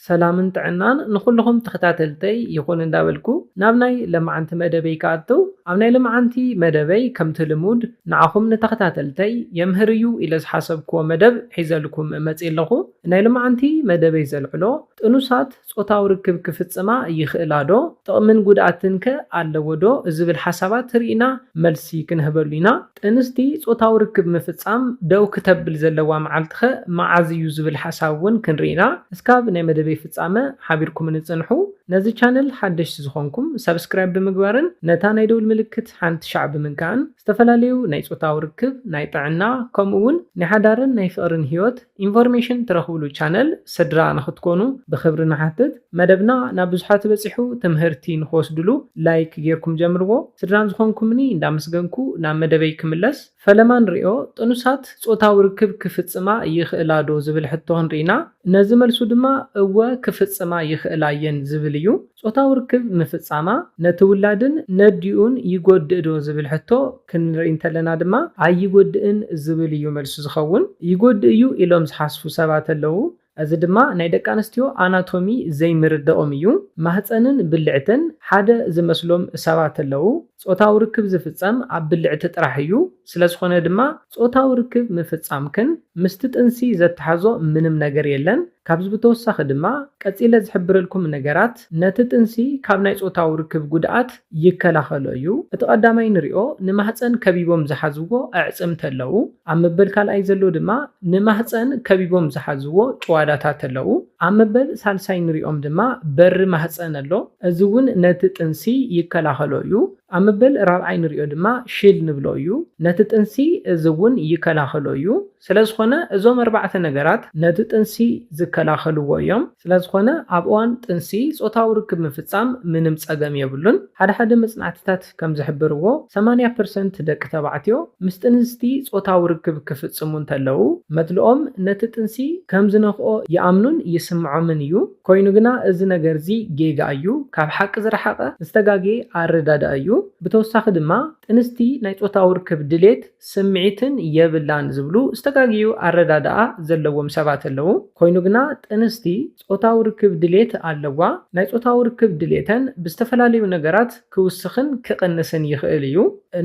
ሰላምን ጥዕናን ንኹሉኹም ተኸታተልተይ ይኹን እንዳበልኩ ናብ ናይ ለማዓንቲ መደበይ ክኣቱ ኣብ ናይ ለማዓንቲ መደበይ ከምቲ ልሙድ ንዓኹም ንተኸታተልተይ የምህር እዩ ኢለ ዝሓሰብኩዎ መደብ ሒዘልኩም መፅየ ኣለኹ ናይ ለማዓንቲ መደበይ ዘልዕሎ ጥኑሳት ፆታዊ ርክብ ክፍፅማ ይኽእላ ዶ ጥቕምን ጉድኣትን ከ ኣለዎ ዶ ዝብል ሓሳባት ሪኢና መልሲ ክንህበሉ ኢና ጥንስቲ ጾታዊ ርክብ ምፍጻም ደው ክተብል ዘለዋ መዓልቲ'ኸ መዓዝ እዩ ዝብል ሓሳብ ውን ክንርኢ ኢና እስካብ ናይ መደበይ ፍጻመ ሓቢርኩምኒ ጽንሑ ነዚ ቻነል ሓደሽቲ ዝኾንኩም ሳብስክራይብ ብምግባርን ነታ ናይ ደውል ምልክት ሓንቲ ሻዕ ብምንካእን ዝተፈላለዩ ናይ ጾታዊ ርክብ ናይ ጥዕና ከምኡ ውን ናይ ሓዳርን ናይ ፍቅርን ሂወት ኢንፎርሜሽን ትረኽብሉ ቻነል ስድራ ንኽትኮኑ ብኽብሪ ንሓትት። መደብና ናብ ብዙሓት በጺሑ ትምህርቲ ንኽወስድሉ ላይክ ጌርኩም ጀምርዎ። ስድራ ንዝኾንኩምኒ እንዳመስገንኩ ናብ መደበይ ክምለስ። ፈለማ ንሪኦ፣ ጥኑሳት ጾታዊ ርክብ ክፍጽማ ይኽእላ ዶ ዝብል ሕቶ ክንሪኢና። ነዚ መልሱ ድማ እወ ክፍጽማ ይኽእላ እየን ዝብል እዩ። ጾታዊ ርክብ ምፍጻማ ነቲ ውላድን ነዲኡን ይጎድእዶ ዝብል ሕቶ ክንርኢ እንተለና ድማ ኣይጎድእን ዝብል እዩ መልሱ ዝኸውን። ይጎድእ እዩ ኢሎም ዝሓስቡ ሰባት ኣለዉ። እዚ ድማ ናይ ደቂ ኣንስትዮ ኣናቶሚ ዘይምርዳኦም እዩ። ማህጸንን ብልዕትን ሓደ ዝመስሎም ሰባት ኣለዉ። ጾታዊ ርክብ ዝፍጸም ኣብ ብልዕቲ ጥራሕ እዩ፣ ስለዝኾነ ድማ ጾታዊ ርክብ ምፍጻምክን ምስቲ ጥንሲ ዘተሓሕዞ ምንም ነገር የለን፣ ካብዚ ብተወሳኺ ድማ ቀጺለ ዝሕብረልኩም ነገራት ነቲ ጥንሲ ካብ ናይ ጾታዊ ርክብ ጉድኣት ይከላኸሎ እዩ፣ እቲ ቀዳማይ ንሪኦ ንማህጸን ከቢቦም ዝሓዝዎ ኣዕጽምቲ ኣለዉ፣ ኣብ መበል ካልኣይ ዘሎ ድማ ንማህጸን ከቢቦም ዝሓዝዎ ጭዋዳታት ኣለዉ። ኣብ መበል ሳልሳይ ንሪኦም ድማ በሪ ማህፀን ኣሎ እዚ እውን ነቲ ጥንሲ ይከላኸሎ እዩ። ኣብ መበል ራብዓይ ንሪኦ ድማ ሽል ንብሎ እዩ ነቲ ጥንሲ እዚ እውን ይከላኸሎ እዩ። ስለዝኾነ እዞም ኣርባዕተ ነገራት ነቲ ጥንሲ ዝከላኸልዎ እዮም። ስለዝኾነ ኣብ እዋን ጥንሲ ፆታዊ ርክብ ምፍፃም ምንም ፀገም የብሉን። ሓደ ሓደ መፅናዕትታት። ጥናታት ከም ዝሕብርዎ፣ ሰማንያ ፐርሰንት ደቂ ተባዕትዮ ምስ ጥንስቲ ጾታዊ ርክብ ክፍጽሙ እንተለዉ፣ መድልኦም ነቲ ጥንሲ ከም ዝነኽኦ ይኣምኑን ይስምዖምን እዩ። ኰይኑ ግና፣ እዚ ነገር'ዚ ጌጋ እዩ፣ ካብ ሓቂ ዝረሓቐ ዝተጋግየ ኣረዳድኣ እዩ። ብተወሳኺ ድማ፣ ጥንስቲ ናይ ጾታዊ ርክብ ድሌት፣ ስምዒትን የብላን ዝብሉ ዝተጋገዩ ኣረዳድኣ ዘለዎም ሰባት ኣለዉ። ኰይኑ ግና፣ ጥንስቲ ጾታዊ ርክብ ድሌት ኣለዋ። ናይ ጾታዊ ርክብ ድሌተን ብዝተፈላለዩ ነገራት ክውስኽን ክቕንስን ይኽእል እዩ።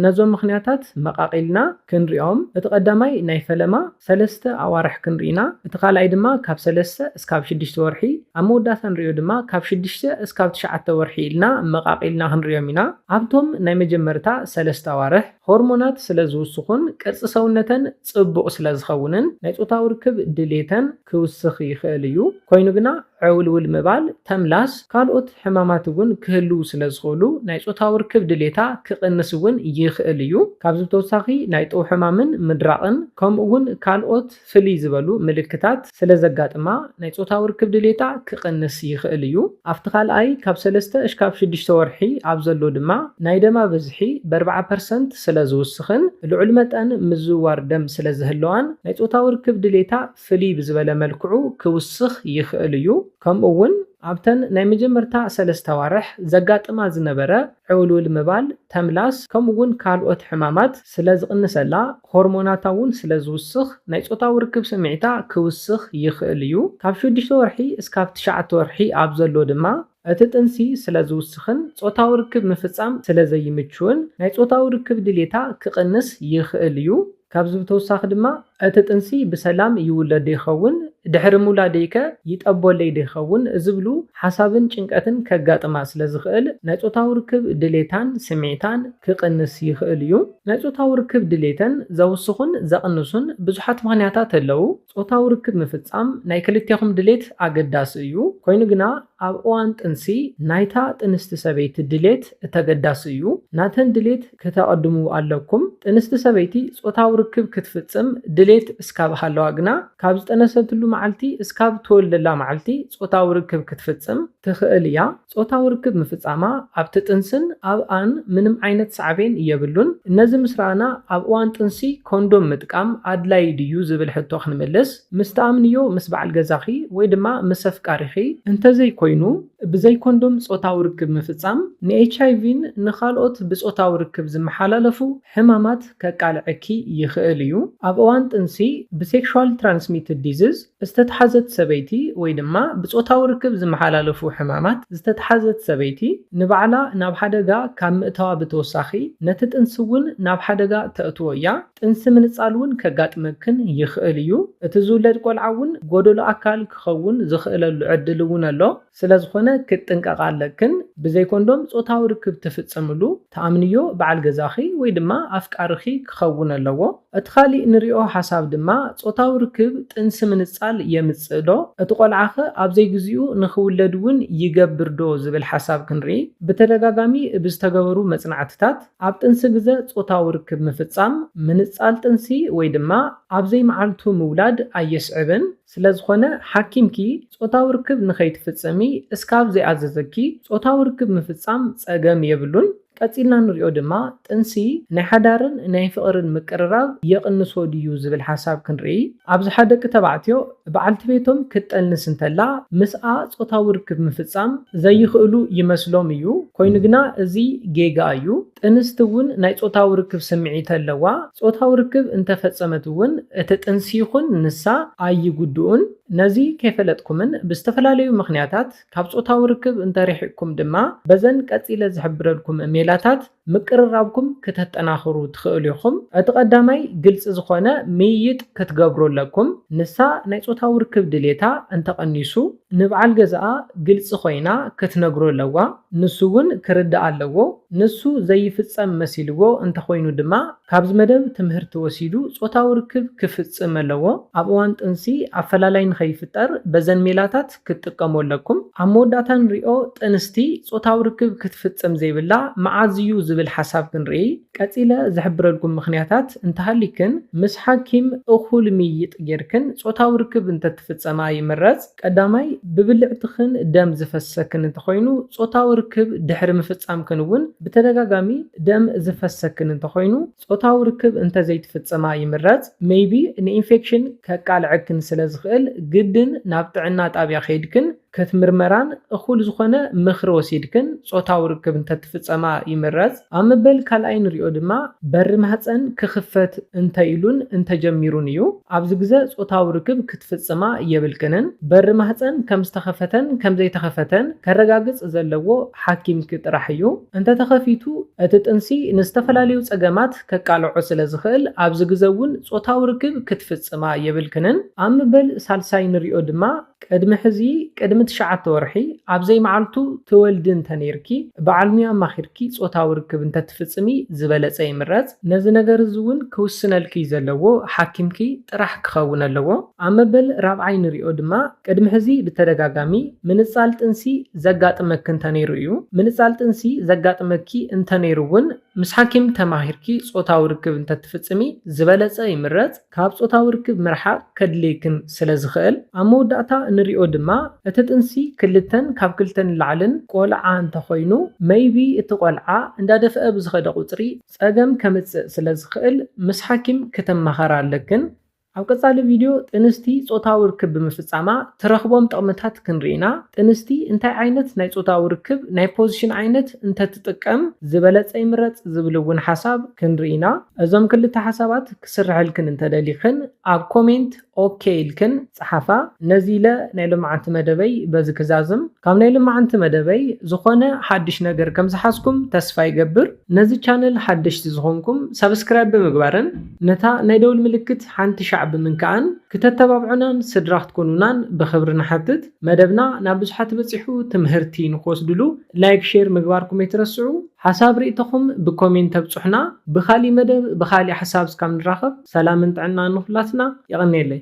ነዞም ምኽንያታት መቓቒልና ክንሪኦም፣ እቲ ቀዳማይ ናይ ፈለማ ሰለስተ ኣዋርሕ ክንርኢ ኢና፣ እቲ ካልኣይ ድማ ካብ ሰለስተ እስካብ ሽዱሽተ ወርሒ፣ ኣብ መወዳእታ ንሪኦ ድማ ካብ ሽዱሽተ እስካብ ትሽዓተ ወርሒ ኢልና መቓቒልና ክንሪኦም ኢና። ኣብቶም ናይ መጀመርታ ሰለስተ ኣዋርሕ ሆርሞናት ስለዝውስኹን ቅርጺ ሰውነተን ጽቡቕ ስለዝኸውንን ናይ ጾታዊ ርክብ ድሌተን ክውስኽ ይኽእል እዩ። ኮይኑ ግና ዕውልውል ምባል፣ ተምላስ፣ ካልኦት ሕማማት እውን ክህልዉ ስለ ዝኽእሉ ናይ ጾታዊ ርክብ ድሌታ ክቕንስ እውን ይኽእል እዩ። ካብዚ ብተወሳኺ ናይ ጥው ሕማምን ምድራቕን ከምኡ እውን ካልኦት ፍልይ ዝበሉ ምልክታት ስለ ዘጋጥማ ናይ ጾታዊ ርክብ ድሌታ ክቕንስ ይኽእል እዩ። ኣብቲ ካልኣይ ካብ ሰለስተ እሽካብ ሽዱሽተ ወርሒ ኣብ ዘሎ ድማ ናይ ደማ ብዝሒ በርብዓ ፐርሰንት ስለ ዝውስኽን ልዑል መጠን ምዝውዋር ደም ስለ ዝህልዋን ናይ ጾታዊ ርክብ ድሌታ ፍልይ ብዝበለ መልክዑ ክውስኽ ይኽእል እዩ። ከምኡ እውን ኣብተን ናይ መጀመርታ ሰለስተ ኣዋርሕ ዘጋጥማ ዝነበረ ዕውልውል ምባል፣ ተምላስ፣ ከምኡ እውን ካልኦት ሕማማት ስለ ዝቕንሰላ ሆርሞናታ እውን ስለ ዝውስኽ ናይ ጾታዊ ርክብ ስምዒታ ክውስኽ ይኽእል እዩ። ካብ ሽዱሽተ ወርሒ እስካብ ትሽዓተ ወርሒ ኣብ ዘሎ ድማ፣ እቲ ጥንሲ ስለ ዝውስኽን ጾታዊ ርክብ ምፍጻም ስለ ዘይምችውን ናይ ጾታዊ ርክብ ድሌታ ክቕንስ ይኽእል እዩ። ካብዚ ብተወሳኺ ድማ እቲ ጥንሲ ብሰላም ይውለድዶ ይኸውን? ድሕሪ ምውላደይከ ይጠቦለይዶ ይኸውን? ዝብሉ ሓሳብን ጭንቀትን ከጋጥማ ስለ ዝኽእል ናይ ጾታዊ ርክብ ድሌታን ስምዒታን ክቕንስ ይኽእል እዩ። ናይ ጾታዊ ርክብ ድሌተን ዘውስኹን ዘቕንሱን ብዙሓት ምኽንያታት ኣለዉ። ጾታዊ ርክብ ምፍጻም ናይ ክልቴኹም ድሌት ኣገዳሲ እዩ፣ ኮይኑ ግና ኣብ እዋን ጥንሲ ናይታ ጥንስቲ ሰበይቲ ድሌት እተገዳሲ እዩ። ናተን ድሌት ክተቐድሙ ኣለኩም። ጥንስቲ ሰበይቲ ጾታዊ ርክብ ክትፍጽም ድሌት እስካብ ሃለዋ ግና ካብ ዝጠነሰትሉ መዓልቲ እስካብ እትወልደላ መዓልቲ ጾታዊ ርክብ ክትፍጽም ትኽእል እያ። ጾታዊ ርክብ ምፍጻማ ኣብቲ ጥንስን ኣብኣን ምንም ዓይነት ሳዕቤን የብሉን። ነዚ ምስ ረኣና፣ ኣብ እዋን ጥንሲ ኮንዶም ምጥቃም ኣድላዪ ድዩ ዝብል ሕቶ ክንምልስ፣ ምስ ትኣምንዮ ምስ በዓል ገዛኺ ወይ ድማ ምስ ኣፍቃሪኺ፣ እንተዘይኮይኑ ብዘይ ኮንዶም ጾታዊ ርክብ ምፍጻም ንኤችኣይቪን ንኻልኦት ብጾታዊ ርክብ ዝመሓላለፉ ሕማማት ከቃልዐኪ ይኽእል እዩ። ኣብ እዋን ጥንሲ ብሴክሹዋል ትራንስሚትድ ዲዝዝ፣ ዝተትሓዘት ሰበይቲ ወይ ድማ ብጾታዊ ርክብ ዝመሓላለፉ ሕማማት ዝተትሓዘት ሰበይቲ ንባዕላ ናብ ሓደጋ ካብ ምእታዋ ብተወሳኺ ነቲ ጥንሲ እውን ናብ ሓደጋ ተእትዎ እያ። ጥንሲ ምንጻል እውን ከጋጥመክን ይኽእል እዩ። እቲ ዝውለድ ቆልዓ እውን ጎደሎ ኣካል ክኸውን ዝኽእለሉ ዕድል እውን ኣሎ። ስለዝኾነ ክትጥንቀቓ ኣለክን፣ ብዘይ ኮንዶም ጾታዊ ርክብ ትፍጽምሉ ትኣምንዮ በዓል ገዛኺ ወይ ድማ ኣፍቃሪኺ ክኸውን ኣለዎ። እቲ ካሊእ ንሪኦ ሓሳብ ድማ ጾታዊ ርክብ ጥንሲ ምንጻል የምጽእ ዶ? እቲ ቆልዓኸ ኣብ ዘይግዚኡ ንኽውለድ እውን ይገብር ዶ ዝብል ሓሳብ ክንርኢ። ብተደጋጋሚ ብዝተገበሩ መጽናዕትታት ኣብ ጥንሲ ግዘ ጾታዊ ርክብ ምፍጻም ምንጻል ጥንሲ ወይ ድማ ኣብ ዘይመዓልቱ ምውላድ ኣየስዕብን። ስለዝኾነ ሓኪምኪ ጾታዊ ርክብ ንኸይትፍጽሚ እስካብ ዘይኣዘዘኪ ጾታዊ ርክብ ምፍጻም ጸገም የብሉን። ቀጺልና ንሪኦ ድማ ጥንሲ ናይ ሓዳርን ናይ ፍቕርን ምቅርራብ የቕንሶ ድዩ ዝብል ሓሳብ ክንርኢ። ኣብዝሓ ደቂ ተባዕትዮ ብዓልቲ ቤቶም ክትጠንስ እንተላ ምስኣ ጾታዊ ርክብ ምፍጻም ዘይኽእሉ ይመስሎም እዩ። ኮይኑ ግና እዚ ጌጋ እዩ። ጥንስቲ እውን ናይ ጾታዊ ርክብ ስምዒት ኣለዋ፣ ጾታዊ ርክብ እንተ ፈጸመት እውን እቲ ጥንሲ ይኹን ንሳ ኣይጉድኡን። ነዚ ከይፈለጥኩምን ብዝተፈላለዩ ምኽንያታት ካብ ጾታዊ ርክብ እንተ ርሒቕኩም ድማ በዘን ቀጺለ ዝሕብረልኩም ሜላታት ምቅርራብኩም ክተጠናኽሩ ትኽእሉ ኢኹም። እቲ ቀዳማይ ግልጺ ዝኾነ ምይይጥ ክትገብሩ ኣለኩም፣ ንሳ ናይ ጾታዊ ርክብ ድሌታ እንተ ቀኒሱ፣ ንብዓል ገዝኣ ግልጺ ኮይና ክትነግሮ ኣለዋ ንሱ ውን ክርዳኣ ኣለዎ ንሱ ዘይፍጸም መሲልዎ እንተኮይኑ ድማ ካብዚ መደብ ትምህርቲ ወሲዱ ጾታዊ ርክብ ክፍጽም ኣለዎ ኣብ እዋን ጥንሲ ኣፈላላይ ንከይፍጠር በዘን ሜላታት ክትጥቀሙ ኣለኩም ኣብ መወዳእታ ንሪኦ ጥንስቲ ጾታዊ ርክብ ክትፍጽም ዘይብላ መዓዝ እዩ ዝብል ሓሳብ ክንርእይ ቀጺለ ዝሕብረልኩም ምክንያታት እንተሃሊክን ምስ ሓኪም እኩል ምይይጥ ጌርክን ጾታዊ ርክብ እንተ ክፍጸማ ይምረጽ። ቀዳማይ፣ ብብልዕትኽን ደም ዝፈስሰክን እንተኾይኑ፣ ጾታዊ ርክብ ድሕሪ ምፍጻምክን እውን ብተደጋጋሚ ደም ዝፈስሰክን እንተኾይኑ፣ ጾታዊ ርክብ እንተዘይትፍጽማ ይምረጽ። ሜይቢ ንኢንፌክሽን ከቃልዐክን ስለዝኽእል ግድን ናብ ጥዕና ጣብያ ከይድክን ክትምርመራን እኹል ዝኾነ ምኽሪ ወሲድክን ጾታዊ ርክብ እንተትፍጸማ ይምረጽ። ኣብ መበል ካልኣይ ንሪኦ ድማ በሪ ማህጸን ክኽፈት እንተኢሉን እንተጀሚሩን እዩ። ኣብዚ ግዘ ጾታዊ ርክብ ክትፍጽማ የብልክንን። በሪ ማህጸን ከም ዝተኸፈተን ከም ዘይተኸፈተን ከረጋግጽ ዘለዎ ሓኪምኪ ጥራሕ እዩ። እንተተኸፊቱ እቲ ጥንሲ ንዝተፈላለዩ ጸገማት ከቃልዖ ስለ ዝኽእል ኣብዚ ግዘ እውን ጾታዊ ርክብ ክትፍጽማ የብልክንን። ኣብ ምበል ሳልሳይ ንሪኦ ድማ ቅድሚ ሕዚ ቅድሚ ትሽዓተ ወርሒ ኣብ ዘይመዓልቱ ትወልዲ እንተነይርኪ በዓል ሙያ ኣማኺርኪ ፆታዊ ርክብ እንተትፍፅሚ ዝበለፀ ይምረፅ። ነዚ ነገር እዚ እውን ክውስነልኪ ዘለዎ ሓኪምኪ ጥራሕ ክኸውን ኣለዎ። ኣብ መበል ራብዓይ ንሪኦ ድማ ቅድሚ ሕዚ ብተደጋጋሚ ምንፃል ጥንሲ ዘጋጥመኪ እንተነይሩ እዩ። ምንፃል ጥንሲ ዘጋጥመኪ እንተነይሩ እውን ምስ ሓኪም ተማኺርኪ ፆታዊ ርክብ እንተትፍፅሚ ዝበለፀ ይምረፅ። ካብ ጾታዊ ርክብ ምርሓቕ ከድልየክን ስለ ዝኽእል፣ ኣብ መወዳእታ እንሪኦ ድማ እቲ ጥንሲ ክልተን ካብ ክልተ ንላዕልን ቆልዓ እንተኾይኑ maybe እቲ ቆልዓ እንዳደፍኣ ብዝኸደ ቁጽሪ ጸገም ከምጽእ ስለ ዝኽእል ምስ ሓኪም ክተማኸራ ኣለክን። ኣብ ቀጻሊ ቪድዮ ጥንስቲ ጾታዊ ርክብ ብምፍጻማ ትረኽቦም ጥቕምታት ክንርኢ ኢና። ጥንስቲ እንታይ ዓይነት ናይ ጾታዊ ርክብ ናይ ፖዚሽን ዓይነት እንተትጥቀም ዝበለጸ ይምረጽ ዝብል እውን ሓሳብ ክንርኢ ኢና። እዞም ክልተ ሓሳባት ክስርሐልክን እንተ ደሊኽን ኣብ ኮሜንት ኦኬ ኢልክን ጽሓፋ። ነዚ ኢለ ናይ ሎምዓንቲ መደበይ በዚ ክዛዝም። ካብ ናይ ሎምዓንቲ መደበይ ዝኾነ ሓድሽ ነገር ከም ዝሓዝኩም ተስፋ ይገብር። ነዚ ቻነል ሓደሽቲ ዝኾንኩም ሳብስክራይብ ብምግባርን ነታ ናይ ደውል ምልክት ሓንቲ ሻዕ ብምንካእን ክተተባብዑናን ስድራ ክትኮኑናን ብኽብሪ ንሓትት። መደብና ናብ ብዙሓት በጺሑ ትምህርቲ ንኽወስድሉ ላይክ ሼር ምግባርኩም ኣይትረስዑ። ሓሳብ ሪኢቶኹም ብኮሜንት ተብፁሑና ብካሊእ መደብ ብካሊእ ሓሳብ እስካብ ንራኸብ ሰላምን ጥዕናን ንኹላትና የቀንየለይ።